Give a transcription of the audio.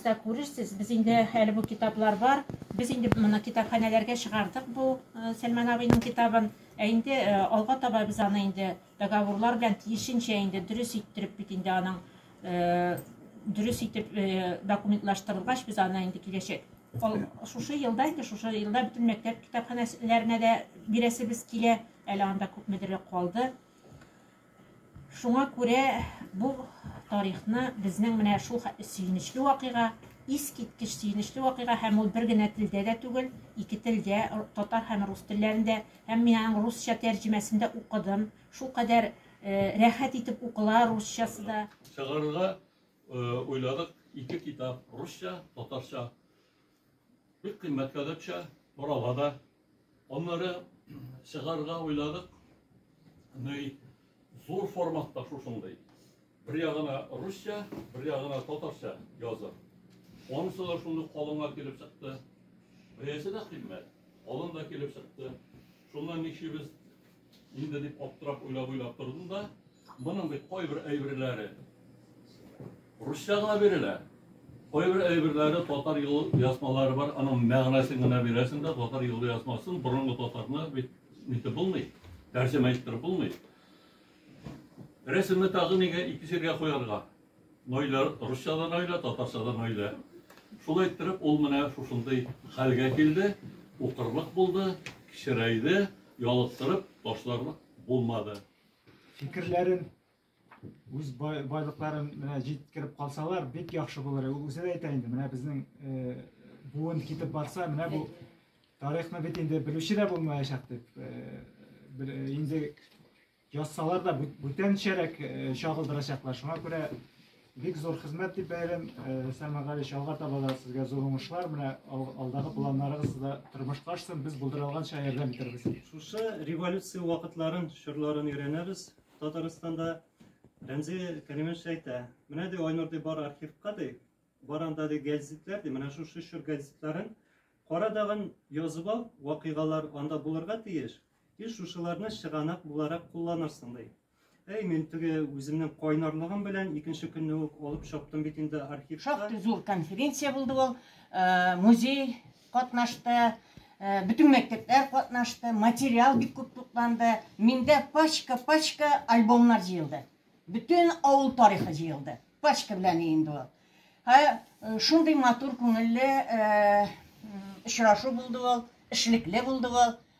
да күрерсез без инде әле бу китаплар бар без инде моны китапханәләргә чыгардык бу э, сәлман абыйның китабын ә инде э, алга таба без аны инде договорлар белән тиешенчә инде дөрес иттереп бит инде аның э, дөрес итеп документлаштырылгач без аны инде киләчәк шушы елда инде шушы елда бөтен мәктәп китапханәләренә дә бирәсебез килә әле анда күпмедер калды Шуңа күрә бу тарихны безнең менә шул хәтле сөенечле вакыйга, искиткеч сөенечле вакыйга һәм ул бер генә телдә дә түгел, ике телдә, татар һәм рус телләрендә, һәм мин аның русча тәрҗемәсен дә укыдым, шулкадәр рәхәт итеп укыла русчасы да. Чыгарырга уйладык ике китап, русча, татарча. Бик кыйммәт кадәпчә, орала да. Аннары чыгарга уйладык. Ней зур форматта шушындый. Бер ягына русча, бер ягына татарча язып. Онысы да шундый калыңга килеп чыкты. Бәясе дә кыйммәт. Алын да килеп чыкты. Шуннан ничибез Инде дип аптырап уйлап-уйлап тордым да, моның бит кайбер әйберләре русча гына бирелә. Кайбер әйберләре татар юл язмалары бар, аның мәгънәсен генә бирәсең дә, татар юл язмасын борынгы татарны бит нитеп булмый, тәрҗемә иттереп булмый. Рәсемне тагы нигә ике җиргә куярга? Нойлә, русча да нойлә, татарча да нойлә. Шулай иттереп, ул менә шушындый хәлгә килде, укырлык булды, кечерәйде, ялыктырып ташларлык булмады. Фикерләрен үз байлыкларын менә җиткереп калсалар, бик яхшы булыр. Ул үзе дә әйтә инде, менә безнең э, буын китеп барса, менә бу тарихны бит инде белүче дә булмаячак дип. Э, э, инде Язсалар да бүтәнчәрәк чагылдырачаклар. Шуңа күрә бик зур хезмәт дип бәялим. Сәлман Галич, алга таба да сезгә зур уңышлар. Менә алдагы планнарыгыз да тормышка ашсын. Без булдыра алганча ярдәм итәрбез. Шушы революция вакытларын, чорларын өйрәнәбез. Татарстанда Рәмзи Кәримович әйтә, менә ди Айнур ди бар архивка ди, бар анда ди гәзитләр ди, менә шушы чор гәзитләрен кара дагын язып ал, вакыйгалар анда булырга тиеш. И шушыларны чыганак буларак кулланырсың, ди. Әй, мин теге үземнең кайнарлыгым белән икенче көнне үк алып чаптым бит инде архивка. Шактый зур конференция булды ул. Э, музей катнашты, э, бөтен мәктәпләр катнашты, материал бик күп тупланды. Миндә пачка-пачка альбомнар җыелды. Бөтен авыл тарихы җыелды. Пачка белән инде ул. Һә, э, шундый матур күңелле очрашу булды ул, эшлекле булды ул.